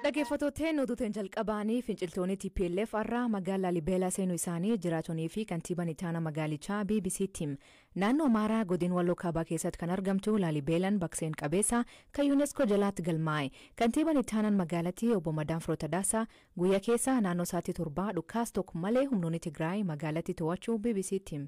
Dhageeffatooteen oduu teen jalqabaanii finciltoonii tplf arraa magaal Laalibeelaa seenuu isaanii jiraatoni fi kantiiban itaana magaalichaa bbc tti him. Naannoo Amaaraa godin Walloo Kaabaa keessatt kan argamtu Laalibeelan bak seen qabeessa kan Unesco jalaatt galmaa'e. Kantiiban ittaanan magaalati obbo Madaan Firoo Tadaasa guyya keessa naannoo saattii torbaa dhukkaas tok malee humnooni Tigraay magaalatti too'achuu bbc tti him.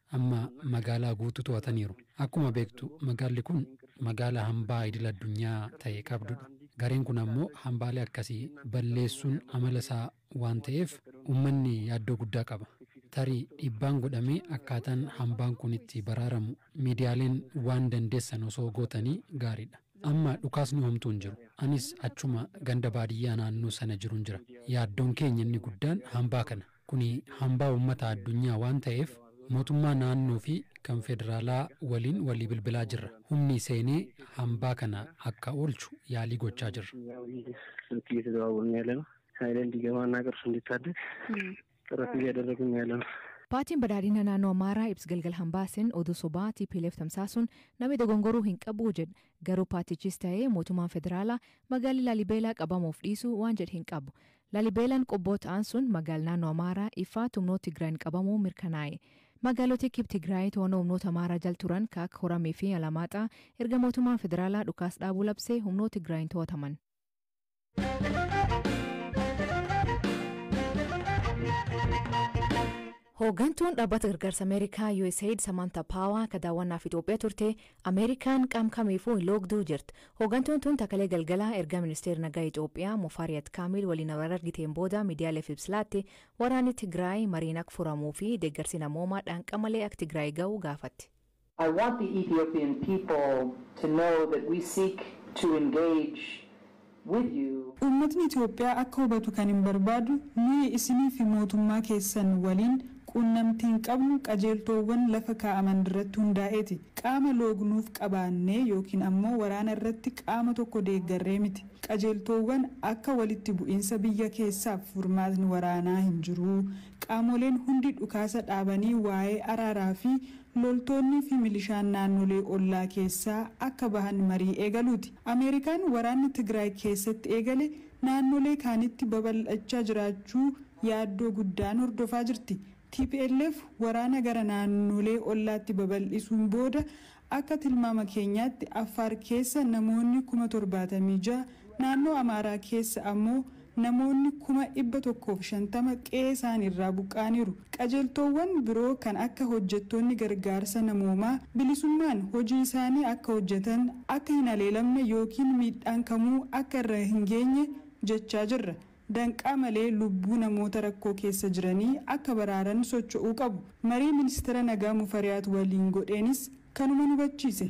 Amma magaalaa guutuu to'ataniiru. Akkuma beektu magaalli kun magaala hambaa idil addunyaa ta'e qabdudha. Gareen kun ammoo hambaalee akkasii balleessuun amala isaa waan ta'eef ummanni yaaddoo guddaa qaba. Tarii dhiibbaan godhamee akkaataan hambaan kun itti baraaramu miidiyaaleen waan dandeessan osoo gootanii gaariidha. Amma dhukaasni homtuu hin jiru. Anis achuma ganda baadiyyaa naannoo sana jirun jira. Yaaddoon keenya inni guddaan hambaa kana. Kuni hambaa ummata addunyaa waan ta'eef mootummaa naannoo fi kan federaalaa waliin walii bilbilaa jirra. Humni seenee hambaa kana akka oolchu yaalii gochaa jirra. Paartiin Badhaadhina Naannoo Amaaraa ibs Galgal Hambaa sin oduu sobaa tplf tamsaasuun nami dogongoruu hin qabu jedh garuu paartichis ta'ee mootummaan federaalaa magaalli Laalibeelaa qabamuuf dhiisuu waan jedh hin qabu. Lalibeelan Qobboo ta'an sun magaal naannoo Amaaraa, Ifaat, humnoot Tigraayin qabamuu mirkanaa'e. Magaaloti kib Tigraayi to'annoo humnoota Amaaraa jal turan ka akka Koramii fi Alamaaxaa erga mootummaan federaalaa dhukaas dhaabuu labsee humnoot Tigraayin to'ataman. Hooggantuun Dhaabbata Gargaarsa Ameerikaa, Usaid, Samaantaa Paawaa ka daawwannaaf Itoophiyaa turte Ameerikaan qaam kamiifuu hin loogduu jett. Hoogantuun tun ta kalee galgala erga Ministeer Nagaa Itoophiyaa Mufariyat Kaamiil waliin wal argiteen booda midiyaaleef ibs laatte waraanni Tigraay mariin ak furamuu fi deeggarsi namoomaa dhaanqa malee ak Tigraay gahu gaafatte. I want the Ethiopian people to know that we seek to engage with you. Uummatni Itoophiyaa akka hubatu kanin barbaadu, nuyi isinii fi mootummaa keessan waliin quunnamtiin qabnu qajeeltoowwan lafa kaa'aman irratti hundaa'eeti. Qaama loognuuf qabaannee ykn ammoo waraana irratti qaama tokko deeggarree miti. Qajeeltoowwan akka walitti bu'iinsa biyya keessaaf furmaatni waraanaa hin jiru, qaamoleen hundi dhukaasa dhaabanii waa'ee araaraa fi loltoonnii fi milishaan naannolee ollaa keessaa akka bahan marii eegaluuti. Ameerikaan waraanni Tigraay keessatti eegale naannolee kaanitti babal'achaa jiraachuu yaaddoo guddaan hordofaa jirti. Tplf waraana gara naannolee ollaatti babal'isuun booda akka tilmaama keenyaatti Affaar keessa namoonni kuma torbaatamii ja'a, naannoo Amaaraa keessa ammoo Namoonni 150,000 qe'ee isaani irraa buqqa'aniiru. Qajeeltoowwan biroo kan akka hojjettoonni gargaarsa namoomaa bilisummaan hojii isaanii akka hojjetan, akka hin haleelamne ykn miidhaan kamuu akka irra hin geenye jechaa jirra. Danqaa malee lubbuu namoota rakkoo keessa jiranii akka baraaran socho'uu qabu. Marii Ministira Nagaa Mufariyaat waliin godheenis kanuman hubachiise.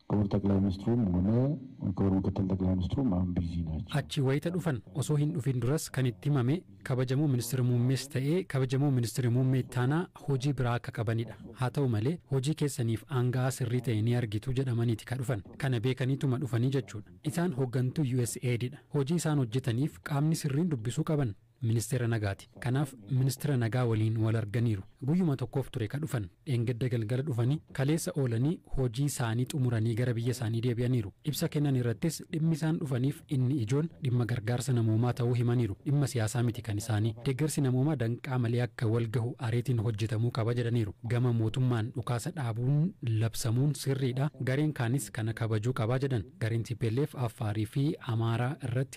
Kibur Xaqlay Ministrum Hune Kibur Mikittil Xaqlay Ministrum Aun Bizi Nacho. Achi wayita dhufan osoo hin dhufin duras kan itti himame Kabajamoo Ministira Muummees ta'ee Kabajamoo Ministira Muummee Ittaanaa hojii biraa akka qabanidha. Haa ta'u malee hojii keessaniif aanga'aa sirrii ta'e ni argitu jedhamaniti ka dhufan. Kana beekaniituma dhufanii jechuudha. Isaan hoggantuu Usaid dha. Hojii isaan hojjetaniif qaamni sirriin dubbisuu qaban Ministeera Nagaati. Kanaaf Ministira Nagaa waliin wal arganiiru. Guyyuma tokkoof ture ka dhufan. Dheengadda galgala dhufanii kaleessa oolanii hojii saanii xumuranii gara biyya saanii deebi'aniiru. Ibsa kennan irrattis dhimmi isaan dhufaniif inni ijoon dhimma gargaarsa namoomaa ta'uu himaniiru. Dhimma siyaasaa miti kan isaanii. Deeggarsi namoomaa danqaa malee akka wal gahu ariitiin hojjetamuu qaba jedhaniiru. Gama mootummaan dhukaasa dhaabuun labsamuun sirriidha. Gareen kaanis kana kabajuu qaba jedhan. Gareen tplf Affaariifi Amaaraa irratti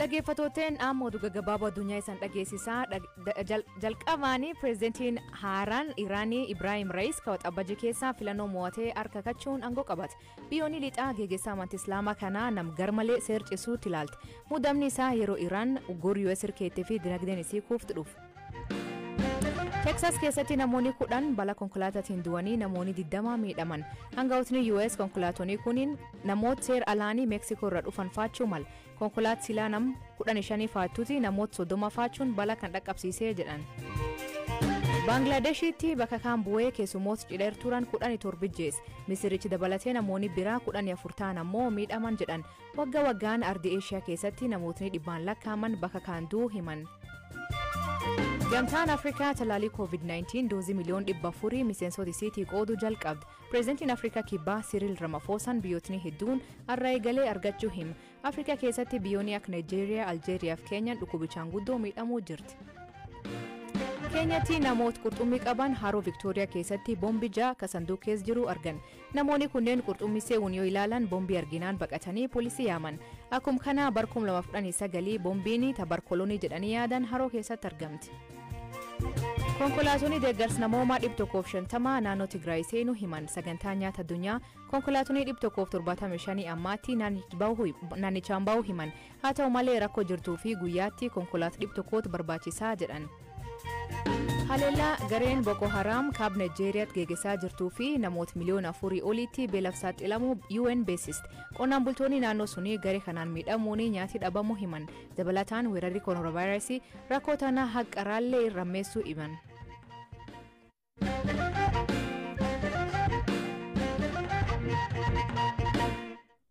Dhaggeeffatooteen ammoo oduu gaggabaaboo addunyaa isaan dhageessisaa jalqabaanii pireezidantiin haaraan Iraanii Ibraahim Raayis kawaxabajii keessaa filannoo mo'atee harka kachuun aangoo qabate. Biyyoonni lixaa geggeessaa amantii Islaamaa kanaa nam garmalee seercisuutti ilaalti. Muudamni isaa yeroo Iraan uggurri US irkeettee fi dinagdeen isii kuuftu dhufu. Teeksaas keessatti namoonni kudhan bala konkolaataatiin du'anii namoonni 20 miidhaman. Hangawootni US konkolaatonni kuniin namoota seer alaanii Meeksikoo irra dhufan faachuu mal. Konkolaat silaa nam 15 faattuuti namoota 30 faachuun bala kan dhaqqabsiisee jedhan. Baanglaadeshiitti bakka kaan bu'ee keessumoota cidheer turan 17 jees. Misirichi dabalatee namoonni biraa 14 ta'an ammoo miidhaman jedhan. Wagga waggaan ardi Eeshiyaa keessatti namootni dhibbaan lakkaa'aman bakka kaan du'uu himan. Gamtaan Afrikaa talaalii COVID-19 doozii miliyoon dhibba afurii miseensota isiitii qooduu jalqabde. Pireezidantiin Afrikaa Kibbaa Siriil Ramafoosaan biyyootni hedduun arra eegalee argachuu hima. Afrikaa keessatti biyyoonni akka Naayijeeriyaa, Aljeeriyaa fi Keenyaan dhukkubichaan guddoo miidhamuu jirti. Keenyatti namoota qurxummii qaban haroo Viktooriyaa keessatti boombi ja'a ka sanduuqa keessa jiru argan. Namooni kunneen qurxummii seewun yoo ilaalan bombii arginaan baqatanii polisii yaaman. Akkum kanaa bar 2019 bombiini ta bar kolonii jedhanii yaadan haroo keessatti argamti. Konkolaatoni deeggars namoomaa 150 naannoo Tigraay seenu himan sagantaa nyaata addunyaa konkolaatonii 175 ammaatti naannichaan bahu himan Haa ta'u malee rakkoo jirtuu fi guyyaatti konkolaat dhib tokkoot barbaachisaa jedhan. Haleellaa gareen Boko Haraam kaab Najeeriyaatti geegesaa jirtuu fi namoot miliyoona afurii oliitti beelaf saaxilamuu UN beeksiste. Qonnaan bultoonni naannoo sunii garee kanaan miidhamuun nyaati dhabamuu himan. Dabalataan weerarri koronaavaayirasii rakkoo tana haqqa raallee irrammeessuu himan.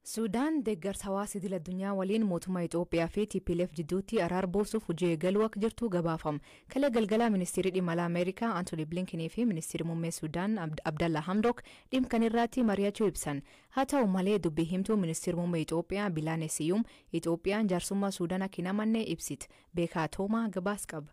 Suudaan deeggarsa hawaasa idil addunyaa waliin mootummaa Itoophiyaa fi TPLF jidduutti araara buusuuf hojii eegaluu akka jirtu gabaafame. Kalee galgalaa ministeerri dhimma alaa Ameerikaa Antoonii Blinkinii fi ministeerri muummee Suudaan Abdallaa Hamdook dhimma kana irratti mari'achuu ibsan. Haa ta'u malee dubbii himtuu ministeerri muummee Itoophiyaa Bilaanee Siyuum Itoophiyaan jaarsummaa Suudaan akka hin amanne ibsite. Beekaa Toomaa gabaas qaba.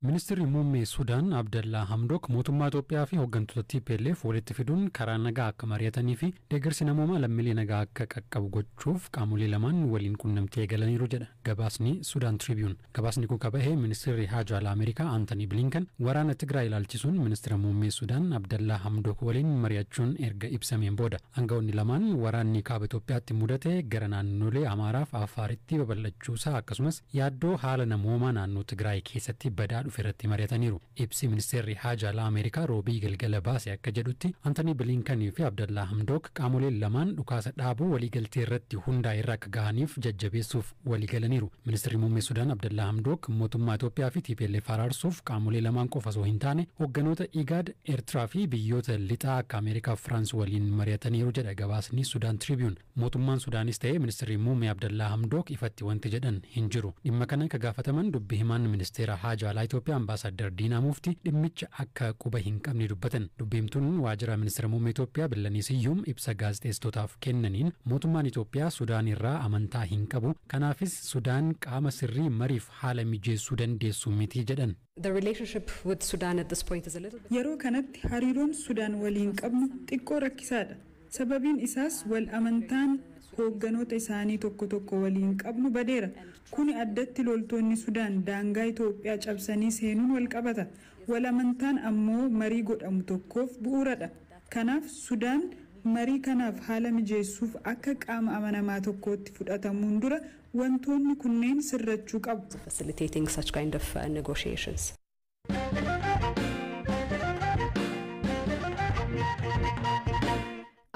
Ministirri Muummee Sudaan Abdallaa Hamdook mootummaa Itoophiyaa fi hoggantoota tplf walitti fiduun karaa nagaa akka mari'atanii fi deeggarsi namoomaa lammiilee nagaa akka qaqqabu gochuuf qaamolee lamaan waliin qunnamtii eegalaniiru jedha gabaasni Sudan Tribune. Gabaasni kun ka bahe Ministirri Haajaa Alaa Ameerikaa Antanii Blinken waraana Tigraay ilaalchisuun Ministira Muummee Sudaan Abdallaa Hamdook waliin mari'achuun erga ibsameen booda. Aanga'oonni lamaan waraanni Kaaba Itoophiyaatti mudate gara naannolee Amaaraa fi Affaaritti babal'achuusaa akkasumas, Yaaddoo haala namoomaa naannoo Tigraay keessatti badaa dhufe irratti mari'ataniiru. Ibsi Ministeerri Haajaa Alaa Ameerikaa Roobii galgala baase akka jedhutti, Antanii Biliinkan fi Abdallaa Hamdook qaamoleen lamaan dhukaasa dhaabuu waliigaltee irratti hundaa'e irra akka gahaniif jajjabeessuuf waliigalaniiru. Ministirri Muummee Sudaan Abdallaa Hamdook mootummaa Itoophiyaa fi tplf araarsuuf qaamolee lamaan qofa osoo hin taane hogganoota IGAD, Ertiraa fi biyyoota lixaa akka Ameerikaa fi Firaans waliin mari'ataniiru jedha gabaasni Sudan Tribune. Mootummaan Sudaanis ta'e Ministirri Muummee Abdallaa Hamdook ifatti wanti jedhan hin jiru. Dhimma kana ka gaafataman dubbi himaan Ministeera Haajaa Alaa Itoophiyaa Ambaasaaddar Diinaa Muufti dhimmicha akka quba hin qabne dubbatan. Dubbi himtuun Waajjira Ministira Muummee Itoophiyaa Billanii Siyyum ibsa gaazexeessitootaaf kennaniin mootummaan Itoophiyaa Sudaan irraa amantaa hin qabu, kanaafis Sudaan qaama sirrii mariif haala mijeessuu dandeessu miti jedhan. The relationship with Sudan at this point is a little bit. Yeroo kanatti hariiroon Sudaan waliin qabnu xiqqoo rakkisaadha. Sababiin isaas wal amantaan hoogganoota isaanii tokko tokko waliin qabnu badeera. Kuni addatti loltoonni Sudaan daangaa Itoophiyaa cabsanii seenuun wal qabata. Wal amantaan ammoo marii godhamu tokkoof bu'uuradha. Kanaaf Sudaan marii kanaaf haala mijeessuuf akka qaama amanamaa tokkootti fudhatamuun dura Wantoonni kunneen sirrachuu qabu. facilitating such kind of negotiations.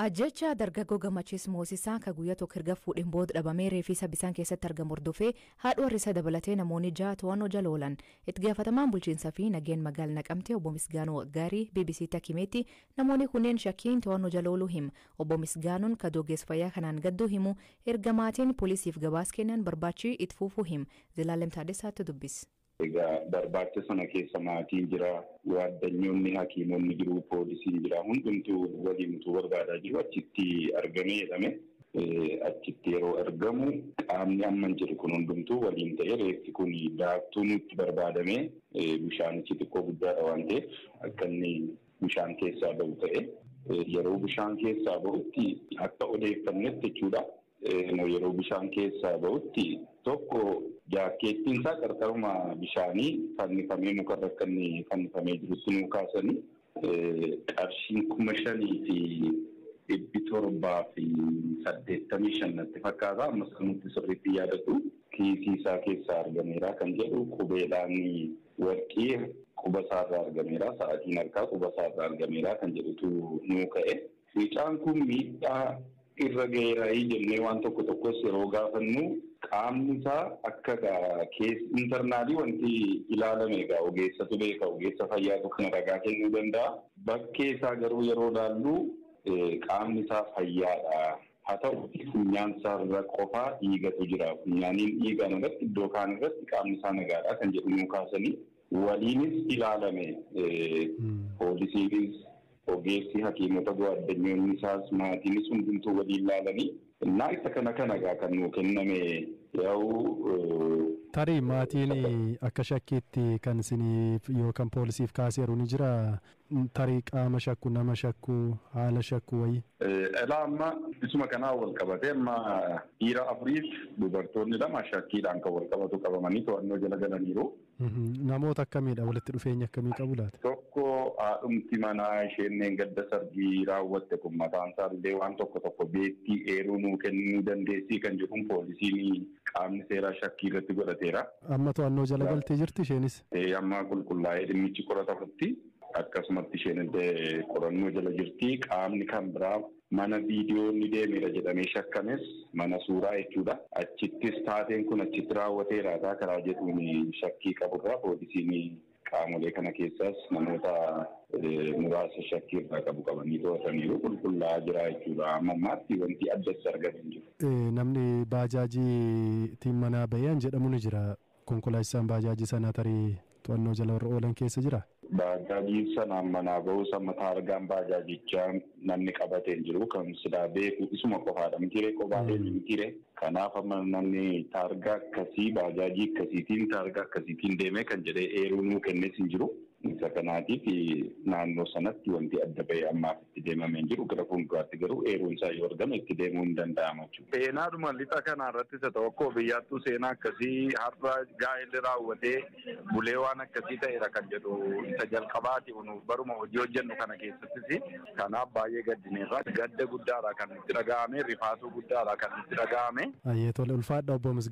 Ajjeechaa dargaggoo Gammachiis Moosisaa ka guyyaa tokko erga fuudheen booda dhabamee reeffi isaa bisaan keessatti argamu hordofee haadha warra isaa dabalatee namoonni ja'a to'annoo jala oolan. Itti gaafatamaan bulchiinsaa fi nageen magaal Naqamtee obbo Misgaanuu Waggaarii BBC'tti akka himeetti namoonni kunneen shakkiin to'annoo jala ooluu hima. Obbo Misgaanuun ka Dogees Fayyaa kanaan gadduu himu, erga maatiin polisiif gabaas kennan barbaachi it fuufuu him. Zelaalem Taaddesaa tu dubbis. Egaa barbaacha sana keessa maatiin jira, waaddanyoonni, hakiimonni jiru, poolisiin jira, hundumtuu waliin utuu barbaadaa jiru achitti argamee jedhame. Achitti yeroo argamu qaamni amman jedhu kun hundumtuu waliin ta'ee reeffi kun daaktuu nuutti barbaadamee bishaanichi xiqqoo guddaadha waan ta'eef akka inni bishaan keessaa ba'u ta'e yeroo bishaan keessaa ba'utti akka odeeffannetti jechuudha. Yeroo bishaan keessaa ba'utti tokko jaakkeettiin isaa qarqaruma bishaanii fannifamee mukarra akka inni fannifamee jirutti nuu kaasanii qarshiin kuma shanii fi dhibbi torbaa fi saddeettamii shan natti fakkaata amma sanuutti sirriitti yaadatu kiisii isaa keessaa argameera kan jedhu qubeedhaan Warqii quba isaa irraa argameera, sa'atiin harkaa quba isaa irraa argameera kan jedhutu nuu ka'e. Mucaan kun miidhaa irra ga'eeraayii jennee waan tokko tokkos yeroo gaafannu qaamni isaa akka egaa keessa internaalii wanti ilaalame egaa ogeessatu beeka, ogeessa fayyaatu kana ragaa kennuu danda'a. Bakkee isaa garuu yeroo ilaallu qaamni isaa fayyaadha. Haa ta'uutii funyaansaarra qofa dhiigatu jira. Funyaaniin dhiigaan alatti iddoo kaan irratti qaamnisaa nagaadha kan jedhu nuu kaasanii, waliinis ilaalame. Poolisiinis, ogeessi, hakiimota goaddanyoonnisaas, maatiinis hundumtuu waliin laalanii innaa isa kana kana egaa kan nuu kenname yaa'u. Tarii maatiin akka shakkiitti kan isiniif yookan poolisiif kaaseeru ni jiraa? Tarii qaama shakku, nama shakku, haala shakku wayii. Elaa amma isuma kanaan wal qabatee amma dhiira afuriif dubartoonni lama shakkiidhaan kan wal qabatu qabamanii to'annoo jala galaniiru. Namoota akkamiidha? Walitti dhufeenya akkamii qabu laata? Tokko haadhumti manaa isheen dheengadda sargii raawwatte kun mataan isaa illee waan tokko tokko beekti eeruu nuu kennuu dandeessii kan jedhuun poolisiin qaamni seeraa shakkii irratti godhateera. Amma to'annoo jala galtee jirti isheenis? Amma qulqullaa'ee dhimmichi qoratamutti akkasumatti isheen illee qorannoo jala jirti. Qaamni kan biraa mana viidiyoo inni deemeera jedhamee shakkames mana suuraa jechuudha. Achittis taateen kun achitti raawwateera taa karaa jedhuun shakkii qaburraa poolisiin qaamolee kana keessaas namoota muraasa shakkii irraa qabu qabanii to'ataniiru qulqullaa'aa jira jechuudha. Amma ammaatti wanti addatti argame hin jiru. Namni baajaajiitiin manaa ba'e an jedhamu ni jira. Konkolaachisaan Baajaaji sanaa tarii to'annoo jala warra oolan keessa jiraa? Baajaajiin sanaan manaa ba'uus amma taargaan baajaajichaa namni qabate hin jiru. Kan silaa beeku isuma qofaadha mitiiree kophaa deeme mitiiree. Kanaaf amma namni taargaa akkasii baajaajii akkasiitiin taargaa akkasiitiin deemee kan jedhee eeruu nuu kennes hin jiru. Isa kanaatiif naannoo sanatti wanti adda ba'ee ammaaf itti deemame hin jiru. Gara fuulduraatti garuu eeruun isaa yoo argame itti deemuun ni danda'ama jechuudha. Seenaadhuma lixa kanaa irrattis haa ta'u akkuma biyyaattuu seenaa akkasii har'a gaa'elli raawwatee bulee waan akkasii ta'eera kan jedhu isa jalqabaati nuuf baruma hojii hojjennu kana keessattis. Kanaaf baay'ee gaddineerra. Gadda guddaadha kan nutti dhaga'ame, rifaatuu guddaadha kan nutti dhaga'ame. Hayyee tole ulfaadha obbo Misgaanaa.